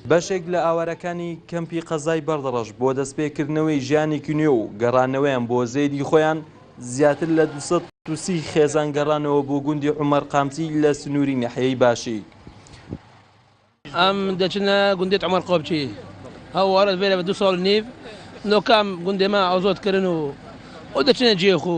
بەشێک لە ئاوارەکانی کەمپی قەزای بەردەڕەش بۆ دەستپێکردنەوەی ژیانێکی نوێ و گەڕانەوەیان بۆ زێدی خۆیان زیاتر لە 230 خێزان گەڕانەوە بۆ گوندی عومەر قامچی لە سنووری نەحیەی باشی. ئەم دەچنە گوندێت عمر قۆبچی هەوارەت بێرە بە دو ساڵ نیو لۆکام گوندێما ئازۆت کردن و ئەو دەچنە جێخو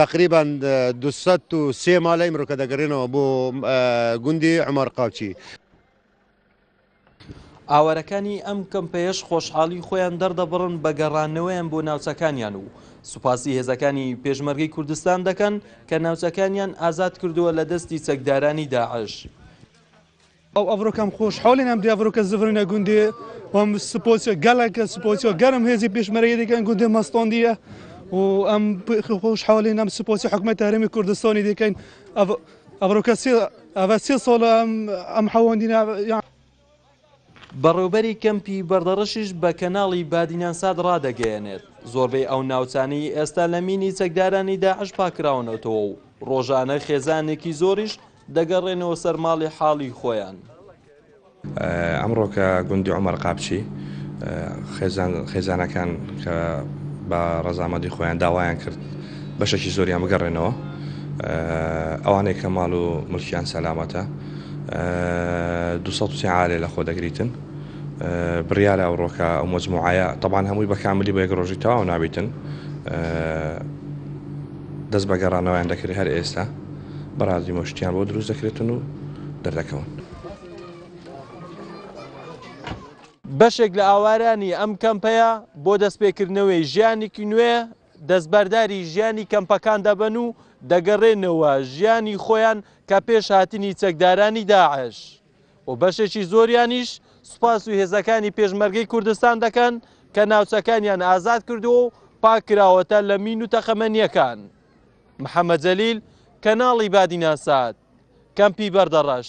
تەقریبەن دوو سەد و سێ مالە ئیمڕۆ کە دەگەڕێنەوە بۆ گوندی عمر قاچی. ئاوارەکانی ئەم کەمپەیەش خۆشحاڵی خۆیان دەردەبڕن بە گەڕانەوەیان بۆ ناوچەکانیان و سوپاسی هێزەکانی پێشمەرگەی کوردستان دەکەن کە ناوچەکانیان ئازاد کردووە لە دەستی چەکدارانی داعش. ئەو ئەڤرۆ کەم خوش حۆلێ نەم دی ئەڤرۆ کە زڤرنە گوندێ وەم سپۆسیۆ گەلەکە سپۆسیۆ گەرم هێزی پێشمەرەیە دەکەن گوندێ مەستۆندیە و ئەم خوش حۆلێ نەم سپۆسی حکومەت هەرمی کوردستانی دەکەین ئەڤرۆ کە سێ ئەڤە سێ ساڵ ئەم حەوەندینە بەڕێوبەری کەمپی بەردەڕەشیش بە کەناڵی بادینانسات ڕادەگەیەنێت، زۆربەی ئەو ناوچانەی ئێستا لە مینی چەکدارانی داعش پاککراونەتەوە و ڕۆژانە خێزانێکی زۆریش دەگەڕێنەوە سەر ماڵی حاڵی خۆیان. ئەمڕۆکە گوندی عومەر قاپچی خێزانەکان کە بە ڕەزامەدی خۆیان داوایان کرد بەشەکی زۆریان بگەڕێنەوە ئەوانەی کە ماڵ و ملکیان سەلامەتە دو عالێ لە خۆ دەگریتن بڕیارە ئەوڕۆکە ئەو مجموعایە تەبان هەمووی بەکاملی بە یەک ڕۆژی تەواو نابیتن دەست بە گەڕانەوەیان دەکرێت هەر ئێستا بەڕازی مۆشتیان بۆ دروست دەکرێتن و دەردەکەون. بەشێک لە ئاوارانی ئەم کەمپەیە بۆ دەستپێکردنەوەی ژیانێکی نوێ دەستبەرداری ژیانی کەمپەکان دەبن و دەگەڕێنەوە ژیانی خۆیان کە پێش هاتنی چەکدارانی داعش و بەشێکی زۆریانیش سوپاس و هێزەکانی پێشمەرگەی کوردستان دەکەن کە ناوچەکانیان ئازاد کردووە و پاککراوەتە لە مین و تەقەمەنییەکان. محەمەد جەلیل، کەناڵی بادینان سات، کەمپی بەردەڕەش.